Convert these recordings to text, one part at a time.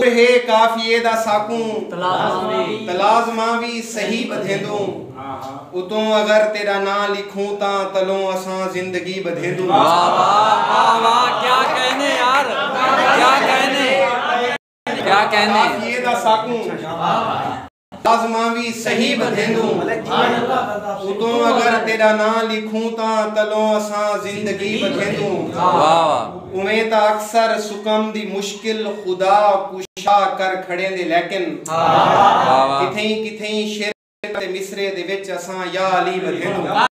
گر ہے قافیے دا ساکوں تلازماں وی صحیح ٻدھیندوں اتوں اگر تیݙا ناں لکھوں تاں تلوں اساں زندگی ٻدھیندوں واہ واہ واہ واہ کیا کہنے یار کیا کہنے کیا کہنے قافیے دا ساکوں لازماں وی صحیح ودھیندوں اتوں اگر تیڈا ناں لکھوں تاں تلوں اساں زندگی ودھیندوں اویں تاں اکثر سکم دی مشکل خدا کشا کر کھڑیندے لیکن کتھئیں کتھئیں شعر تے مصرعے دے وچ اساں یا علی ودھیندوں۔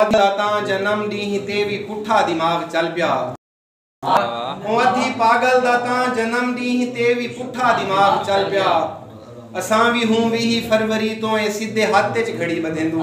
دا تاں جنم ڈینہہ تے وی پٹھا دماغ چل پیا او ادھی پاگل دا تاں جنم ڈینہہ تے وی پٹھا دماغ چل پیا اساں وی ہوں ویہہ فروری توں اے سدھے ہتھ اچ گھڑی بدھیندوں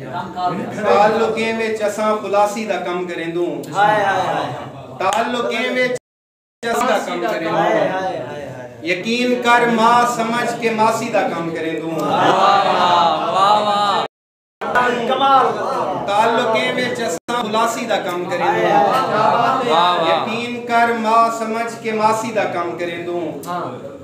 تعلقیں وچ اساں خلاصی دا کم کریندوں تعلقیں وچ اساں دا کم کریندوں یقین کر ماں سمجھ کے ماسی دا کم کریندوں تعلقیں وچ اساں خلاصی دا کم کریندوں یقین کر ماں سمجھ کے ماسی دا کم کریندوں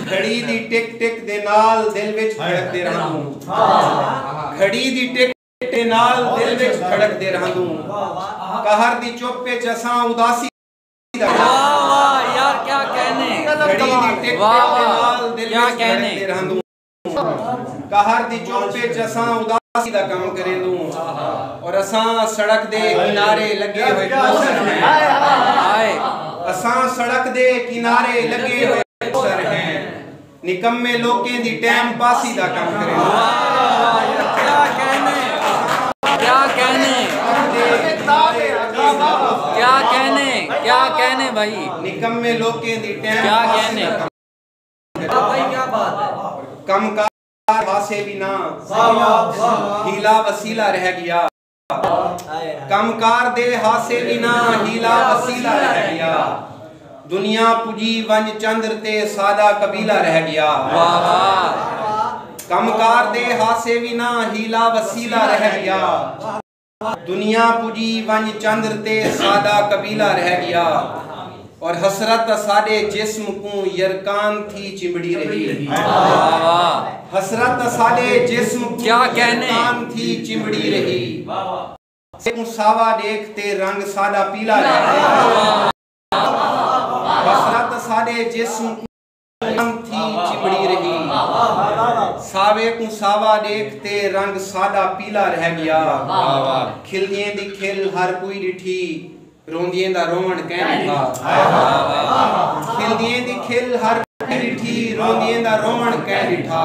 گھڑی دی ٹک ٹک دے نال دل وچ دھڑکدے رہندوں گھڑی دی ٹک ٹک دے نال دل وچ دھڑکدے رہندوں قہر دی چپ وچ اساں اداسی دا گھڑی دی ٹک ٹک دے نال دل وچ دھڑکدے رہندوں قہر دی چپ وچ اساں اداسی دا کم کریندوں اور اساں سڑک دے کنارے لگے ہوئے پوسٹر ہیں اساں سڑک دے کنارے لگے ہوئے پوسٹر ہیں نکمے لوکیں دی ٹائم پاسی دا کم کریندوں کیا کہنے کیا کہنے کیا کہنے کیا کہنے بھائی نکمے لوکیں دی ٹائم پاسی دا کم کم کار واسے وی نہ ہیلا وسیلہ رہ گیا کم کار دے ہاسے وی نہ ہیلا وسیلہ رہ گیا دنیا پجی ونج چندر تے سادہ قبیلہ رہ گیا کم کار دے ہاسے وی نہ ہیلا وسیلہ رہ گیا دنیا پجی ونج چندر تے ساڈا قبیلہ رہ گیا اور حسرت اساڈے جسم کوں یرکان تھی چمبڑی رہی حسرت اساڈے جسم کوں کیا کہنے یرکان تھی چمبڑی رہی سے کوں ساوا دیکھ تے رنگ ساڈا پیلا رہ گیا حسرت اساڈے جسم کوں ام تھی چمڑی رہی ساوے کوں ساوا ڈیکھ تے رنگ ساڈا پیلا رہ گیا کھلدیاں دی کھل ہر کوئی ڈٹھی روندیاں دا روون کین ڈٹھا کھلدیاں دی کھل ہر کوئی ڈٹھی روندیاں دا روون کین ڈٹھا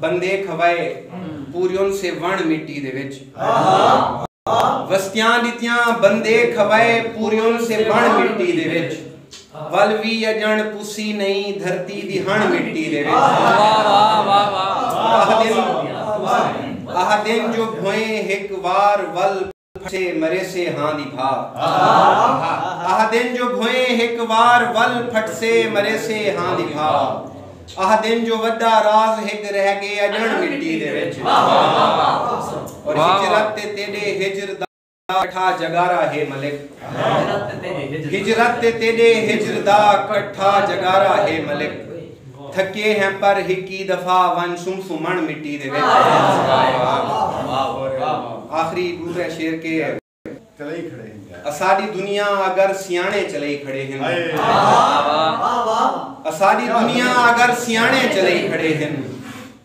بندے کھوائے پوریون سے وݨ مٹی دے وچ۔ وستیاں ݙتیاں بندے کھوائے پوریون سے وݨ مٹی دے وچ۔ ول وی اڄݨ پسی نئیں دھرتی دی ہݨ مٹی دے وچ۔ آہدن جو بھوئیں ہک وار ول۔ پھسے مریسے ہاں دی بھا۔ آہدن جو بھوئیں ہک وار ول پھٹسے مریسے ہاں دی بھا۔ آہدن جو وڈا راز ہک رہ گے اجڑ مٹی دے وچ۔ اور ہجرت تے تیڈے ہجر دا کٹھا جگارا ہے ملک۔ ہجرت تے تیڈے ہجر دا کٹھا جگارا ہے ملک۔ تھکے ہیں پر ہکی دفعہ ونج سم سمن مٹی دے وچ آخری ڈورے شیر کے اساڈی دنیا اگر سیانے چلئی کھڑے ہن اساڈی دنیا اگر سیانے چلئی کھڑے ہن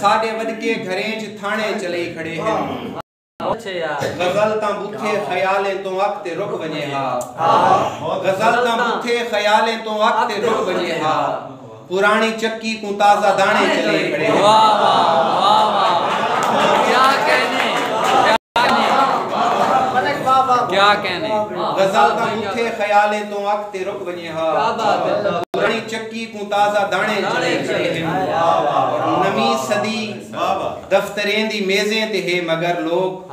سݙکے گھریں چ تھاݨے چلے کھڑے ہن غزل تاں بوتھے خیالیں توں اک تے رک ونجے ہا غزل تاں بوتھے خیالیں توں اک تے رک ونجے ہا پرانی چکی کوں تازہ دانے چلے کھڑے ہن۔ غزل دا مکھے خیالیں توں اگ تے رک ونجے ہا۔ پرانی چکی کوں تازہ دانے چلے کھڑے ہن۔ نویں صدی دفتریں دی میزیں تے ہے مگر لوک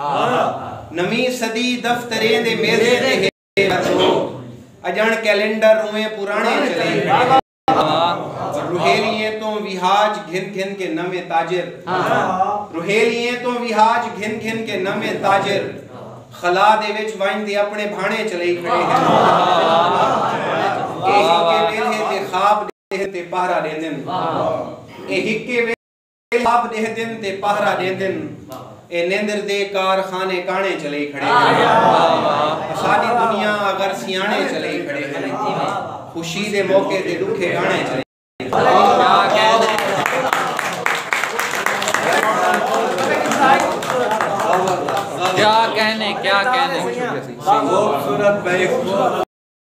نویں صدی دفتریں دے میزیں تے ہے مگر لوک اجݨ کیلنڈر اوویں پرانے چلے کھڑے ہن۔ روہیلیے توں ویہاج گھن گھن کے نویں تاجر روہیلیے توں ویہاج گھن گھن کے نویں تاجر خلا دے وچ وائن دے اپنے بھانے چلے کھڑے ہیں اے ہکے ویلے تے خواب دے تے پہرا دے دن اے ہکے ویلے اے لاب ڈیہدن تے پہرا ڈیندن اے نیندر دے کار خانے کانے چلے کھڑے ہیں ساڈی دنیا اگر سیانے چلے کھڑے ہیں خوشی دے موقع دے لکھے گانے چلے کیا کہنے کیا کہنے